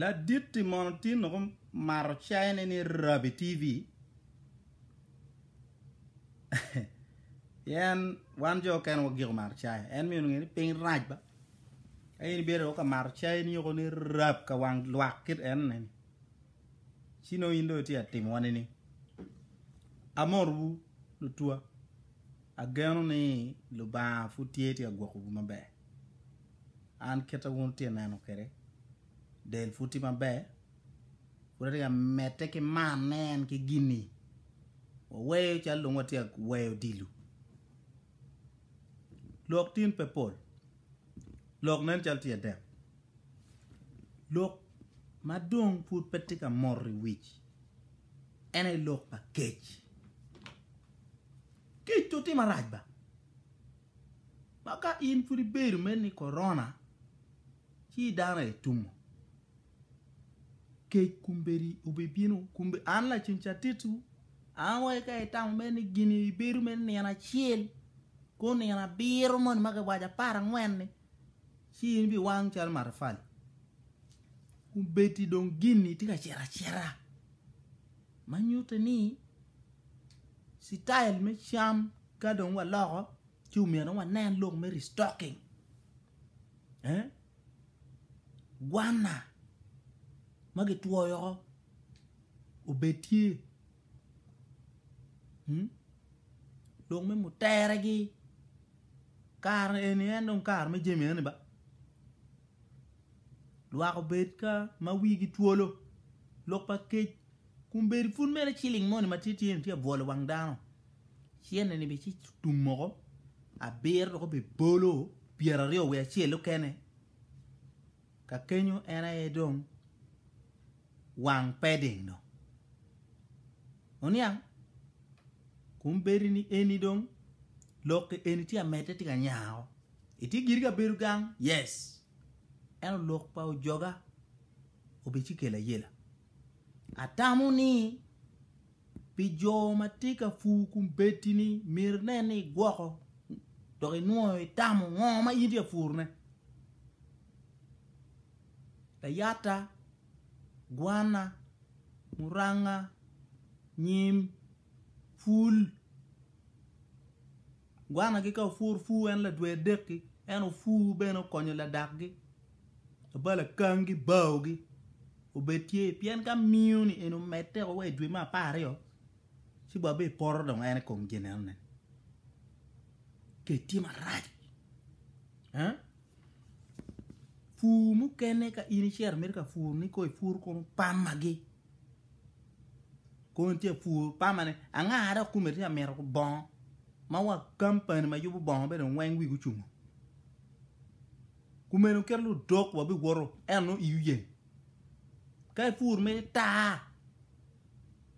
Laditti mono tin noko mato cayone ni Rabi TV pien wan jo okene wagiko mato caya en mino nge ni piny rac ba ka in ibedo ka mato cai ni yoko ni rab ka wang lwak kit en ne ni ci no in do itye atimo wani ni amorwu lutwa ageno ni lubanga pud tye tye agwokowu maber An kite wun wutye ka neno kwede, del pud tye maber, pud atye ka medde ki manne en ki gin-ni. Waweyo calo dong watye ka weyo odilo. Lok tin pe pol, lok nen calo tye adek, lok ma dong pud pe tye ka moto i wic en aye lok pa kec. Kec-tu tye marac ba! Ma ka in pud ibedo me ni korona ci dano aye tungo, kec kombeddi obibino, kombe an lacen ca titwu, an wai ka itamo me ni gini ibedo me nino acel, kor nino abiro moni ma giwaco apar angwen-ni, ci in ibiwang calo matafali. Kombeddi dong gin-ni tye ka cito acita, ma nyutte ni citayel me cam ka dong waloko, Ci omyero wanen lok me restocking, eh, gwanna ma gitwoyo oko obed tye, hmm, lok me muteregi, kare eni en dong kare me jami eni ba, lwak obed ka ma wigi twolo, lok pa kec Kun bedo pud mere ciling moni ma tye tye-ni tye abwol i wang dano, cente-ni bene ci tum moko abiro dok obedo bolo pyeraryo wiye acel okene, ka kenyo en aye dong wang peding dong. Oniang? Kun bedo ni eni dong lokke eni tye amedde tye ka nyako. Itye giri ka bedo gang? Yes. Ento lok pa ojoga obedo ci kelo ayela. Atamo ni pi jo ma tye ka pur kombeddi-ni myero inen ni igwoko dok inwoyo itamo ngo ma in tye ka purone. Layata, gwana, muranga, nyim, pul. Gwanagi ka opwur pur en ladwer dekgi, en opwur bene okonyo ladakgi, labal akangi, baogi obed tye pien ka miyo ni en omedde wa i dwe me apar aryo ci bwa bene poto dong en i kom ginene kec tye marac eh pur mukene ka in icito mito ka pur ni kong ipur kong pamagi. Kong tye ka pur pama ne anga dok kome tye ka mito bongo ma wa kampani ma yubo bongo be dong weng wigi ocungo kumene kit ludok wa bi woto ento nongo iyi oyeng ka ipur ma itar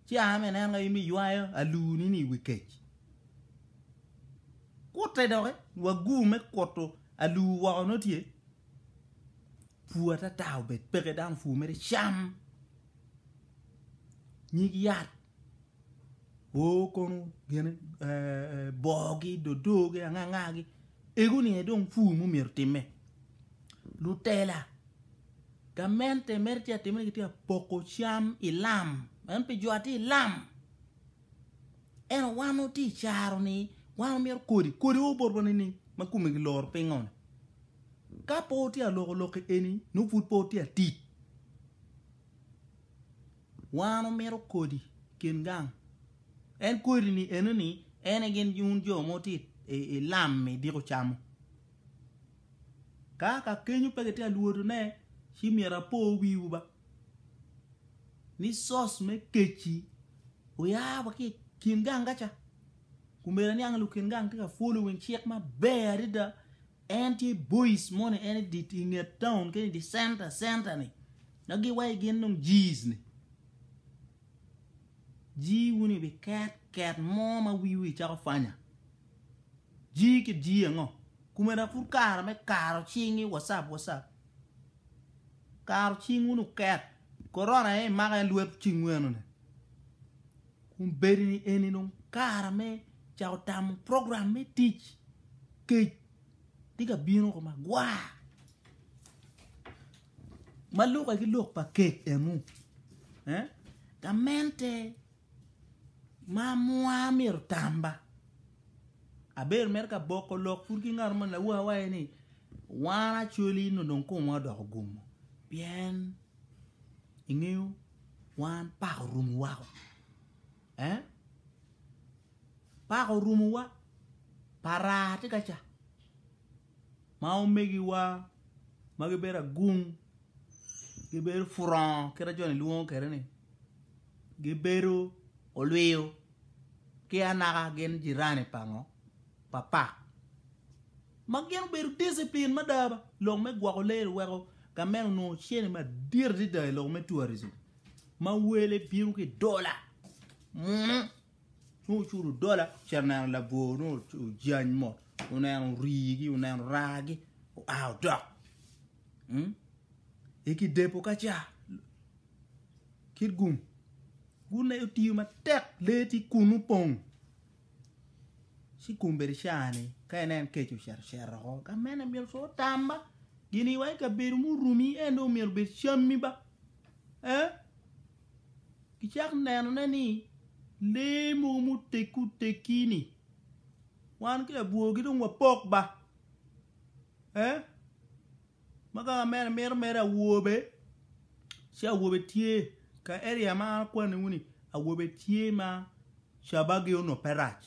ci a ma ineno ka in ma iywayo aluni ni i wi kec kute doki wa gu me kutu alu woko nongo tye. Pur atata obed peke dano pur mere cam nyig yat o kono gene bogi dodogi angangagi ego ni aye dong pur mumyero time lutela gamente mere tye atimone gitye apoko cam ilam en pi jo atye ilam Ento wan watye i caro ni wan wamito kodi, kodi o botwa nining ma kome kiloro pingo-ni? Ka pe wutye ka loko lok eni, nongo pud pe wutye ka tic. Wan wamito kodi i kin gang, en kodi-ni enoni en aye gin wun jo ma wutye i lam idiko camo. Ka ka kenyo pe kitye ka lwotone ci myero apo wiwu ba. ni source me kec-ci oya wa ki i kin ganga ca. Kumeno aniang ni lukin gang tye ka following cik maber adada. En tye boys moni en i dit i nget town kene i di center center ni. Na giwaci gin dong G's ni. G wun i bi ket ket mo ma wiwu i cako fanya. G ki G ango? Kumeno pud kare me karo cing i WhatsApp WhatsApp. Karo cing wunu ket. Korona aye imako aye lwet cingweno ni. Kun bedi ni eni dong kara me cako tamo program me tic. Kec tye ka bino ko magwar. Ma lukke ki lok pa kec enu. Eh? Gamente. Mamwa myero tamba abedo mere ka boko lok pud ki ngat mo lawa awaye ni wan acoli nyo dong komwa odoko gumo pien ingeyo wan pako orumo wako eh pako orumo wa para tye kaca. ma omegiwa ma gibedo agung gibedo purongo kit ma joni lwongo kwede ni gibedo olwiyo ki anaka gin jirani pa ngo pa pak ma gin obedo diciplin mada ba lok me gwoko lee oweko gamen onongo cene madit adada i lok me tourism ma wele bino ki dola munu. nongo ocudo dola ocito oneno labwor nongo ojany mot oneno rigi oneno ragi oa odok hmm? eki depo ka ca kit gum gum na otiyo matek lee ti kun opong ci gum bedi cani ka inen keco ocito cero oko ka mene myero co otam ba gini wa i kabedo murumi en dong myero obed cammi ba eh? Gicako nenone ni lee mogo muteggi oteggi-ni wan ki abwogi dong wapok ba. Ee, ma kaka mere mito mere awobe ci awobe tye ka eria ma an akwaniwu-ni awobe tye ma cabagi onongo pe rac.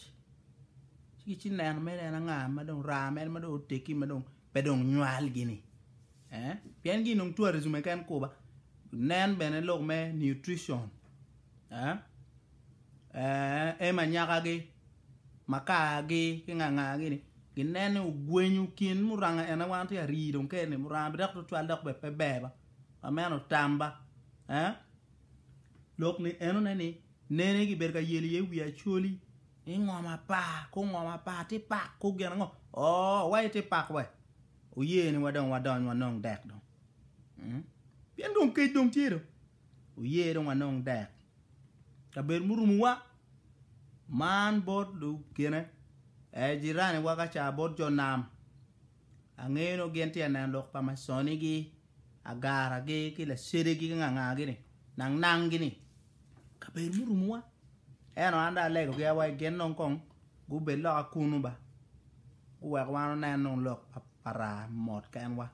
Ci gicito neno mere en anga ma dong raa mere ma dong oteggi ma dong pe dong nywalgi-ni. Pien gi nong tourism keken kuba nen bene lok me nutrition ema nyaka gi makar gi ki nganga gi ni gi nen ni ogwenyo kin muranga en aye wan tye ari dong kene ni muranga bidok tutwal dok bene pe ber ba ma meno tamba lok ni eno ne ni nene gi bedo ka yelo iye wi acholi ingo mapar kong ngo mapar ti pak kong gin ango ooh wa iti pak weh. Oye ni wa dong wa dony wa nong dek dong pien dong kec dong tye dong oye dong wa nong dek kabedo murumu wa man bot lukene aye jirani wa kaca bot jo nam angeyo nongo gin tye aneno lok pa maconi gi agara gi ki lacede gi ki nga nga gi ni nang nang gi ni kabedo murumu wa eno an dong alego gi awaci gin dong kong Gubed loka kunnu ba, guwek wan wunen dong lok pa raa mot kenwa.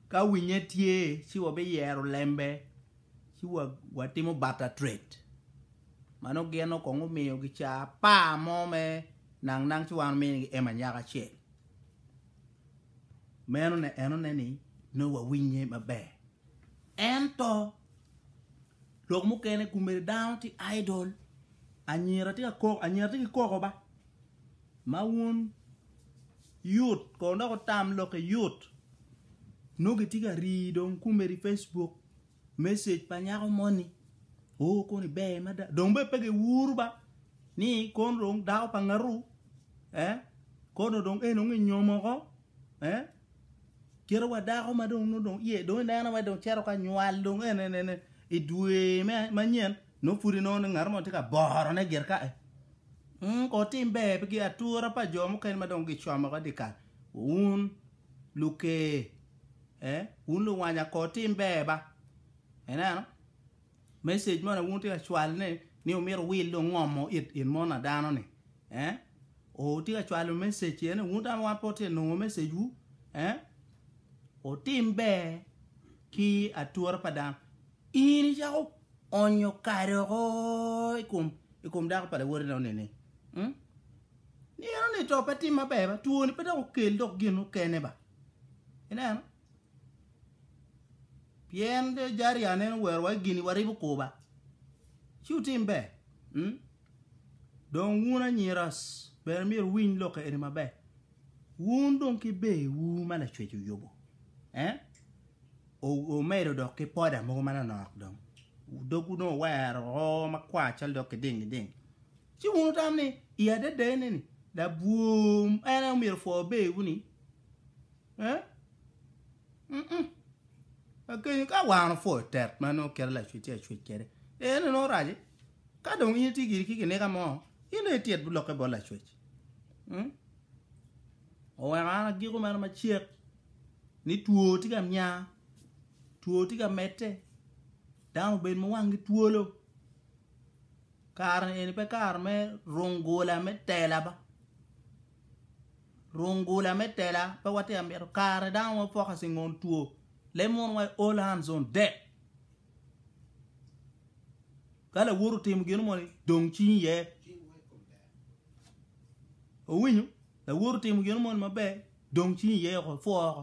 Ka winye tye, ci wabiyero lembe ci watimo barter trade. Mano gin okong omiyo gicaa apar mo me nang nang ci wan wuminigi ema nyako acel. Meno enone ni nongo wawinye maber. Ento Lok mukene kumere dano tye idol. Anyira tye ka koko, anyira tye ki koko ba. Ma wun yut kono dok otam lokke yut. Nongo gitye ka rii dong kumere i Facebook message pa nyako moni. Oh koni ber mada. Dong be pe giwuru ba ni kono dong dako pa ngaru. Eh? Kono dong en onge nyomo ko. Eh? Kite wa dako ma dong nongo dong iye dong ineno wai dong cito ka nywal dong en en en i dwe me manyen nongo pudi nongo ni ngat mo tye ka boro ne gir ka e mm, ko tim ber pi gi atura pa jo mukene ma dong gicomo ka dikal un luke eh un luwanya ko tim ber ba ineno Message moni awobi tye ka cwalo ne ni omito wil dong ngomo it in mon a dano ni eh otye ka cwalo message ene wun dano wan pe watye ka nongo message wu eh otim ber ki atura pa dano in icako onyo kare oko ikom ikom dako pa lawoti ne onini mm nino ni to pe tim maber ba twoni pe dok okel dok gin okene ba ineno Pien de jari aneno werowa i gin-ni waribo kurba. Ci wutim ber. Hmm? Dong wun anyira bene myero wuwiny lok eni maber. Wun dong ki berwu ma Lacwec oyubo, eh? O- omedo dok ki poda mogo manonok dong. Dogwu dong owero oo makwar calo dok kiding giding. Ci wun wutam ni i adadane-ni labwor en aye omyero opwo berwu-ni. Agenyo ka wango pwod tek ma nongo kite lacwec ci acwec kwede en nongo oraco ka dong in itye giri ki kinika mo in dong ityet bilokke bot lacwec oweko an agiko mere macek ni two tye ka nya two tye ka medde dano obedo ma wangi twolo kare eni pe kare me rung gola me tela ba. Rungula me tela pe watye ka mito kare dano ma focus i ngon two le mono wa i all hands on deck ka lawot otimo gino moni dong cingi iye owinyo lawot otimo gino moni maber dong cingi iye oko two oko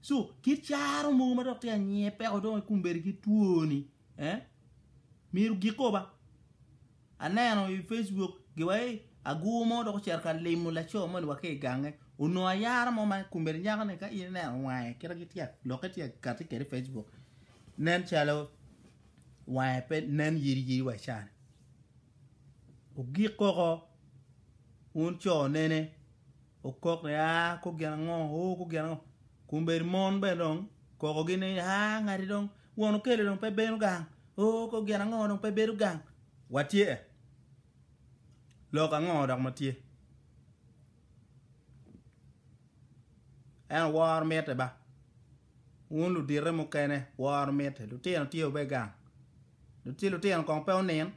So kit caro mogo ma dok tye anyiye peko dong ikumberi ki twoni, eh? Myero gik oba. Aneno i Facebook giwa ei agur mo dok ocito ka limo laco moni wa ki i gange. Onongo ayara mo ma kumberi nyako ni ka in ineno wange kita gitye lokke tye kati kede i Facebook. Nen calo wange pe nen yiri yiri wa cani. Ogik koko un co nene okok ni aa kor gin ango oo kor gin ango kun bene mon bene dong okoko gi ni aa ngati dong won okelo dong pe bino gang oo kor gin ango dong pe bedo gang watye e lok ango dok ma tye en oworo miti ba wun ludite mukene woro miti lutino tye wa bene gang ci lutino kong pe onin.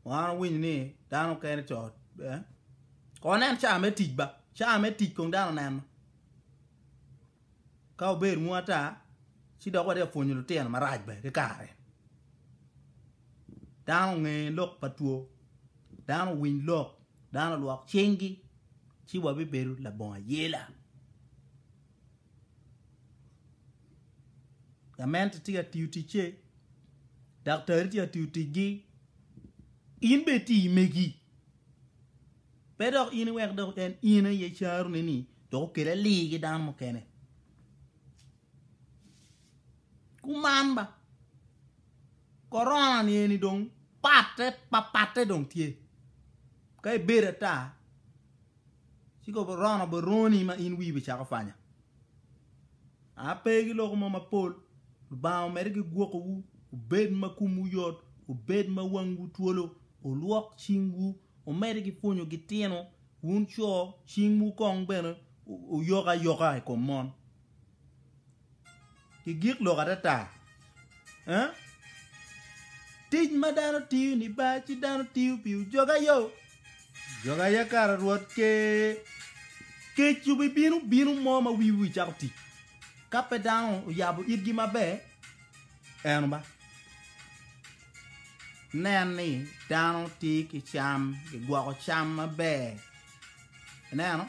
Wan wawinyo ni dano okene co eh? Kon en caa me tic ba, caa me tic kong dano neno. Ka obedo ngu ata, ci dok wati apwonyo lutino marac be ki kare. Dano onge lok pa two, dano owiny lok, dano olwok cinggi, ci wabibedo labongo ayela. Gamente tye ka tiyo ticce, daktari tye ka tiyo ticgi, in bene iti megi. Pe dok in iwek dok en in aye icarone-ni dok okel ali ki dano mukene. Kuman ba, korona-ni eni dong patte papatte dong tye, ka ibedo ata, Ci kobo rono bot roni ma in wii bicako panya. A pe ki loko mo mapol, Lubanga omedde ki gwoko wu, wubed ma kom wu yot, wubed ma wang wu twolo, wulwok cing wu, wumedde ki pwonyo gi tino, wun co, cing wu kong bene oyok ayoka i kom mon. ki gik lok atata eh tic ma dano tiyo ni ba ci dano tiyo pi ojog ayo ojog aya kara rwot ke kec obi bino bino mo ma wi wi cako tic ka pe dano oyabo itgi maber eno ba nen ni dano tiyo ki cam ki gwoko cam maber ineno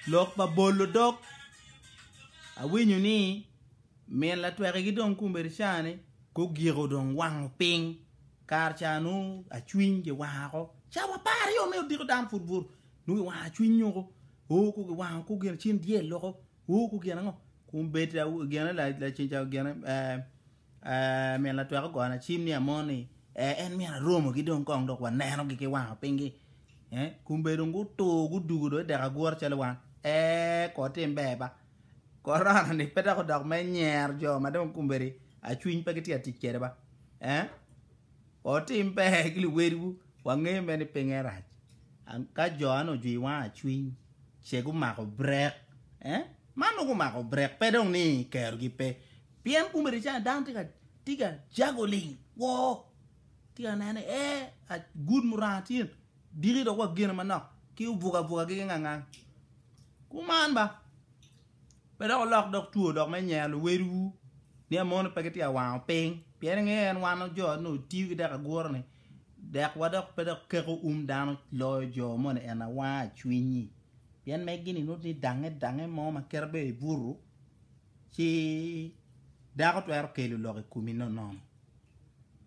Lok pa bolo dog, Awinyo ni min latweki ki dong kombeddi cani gugiko dong wango piny kare ca nongo acwiny kiwango oko cawa apar aryo me odiko dano pud buru nongo kiwango acwiny nyoko oo ko kiwango ko gin cin dyel loko oo ko gin ango kombeddi gene laceng ca gene ee Min latwek ogona acim ni Amoni, ee, en myero aromogi dong kong dok wanenogi ki wanga pingi. Eh, kumbe dong gutur gudugo dong idek agwor calo wan. Ee, kor tim ber ba. Korona ni pe dok odok me nyer jo ma dong kumbedi acwiny pe gitye atic kede ba. Eh, kor tim ber ki luwedwu wangeyo me ni pinge rac. Ka jo an ojwi wanga acwiny ce gumako brek. Eh, man nongo gumako brek pe dong ni kerogi pe. Pien kum Iricana dano tye ka tye ka jago ling woo, tye ka neno ni ee agud muranga tye diki dok wa gene manok ki obuka buka ki ngangang. Kuman ba, pe dok olok dok two dok me nyero luwedwu ni amono pe gitye ka wango piny, pien ingeyo en wano jo ni otiyo ki dek agura ni dek wa dok pe dok keko um dano loyo jo moni en awanga cwinyi. Pien megi ni nut ni dange dange mo ma kite beo ibutu. Ci dako twero kelo lok i komi nonono.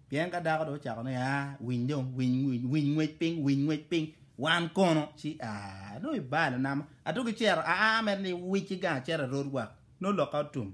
Pien ka dako dong ocako ni, aa, winy dong, winy, winy, winy ngwec piny, winy ngwec piny, wan kono, ci aa, dong ibalo nama. Atuki cero, aa, amedde ni wici gang acero erot wak, nongo lokka otum.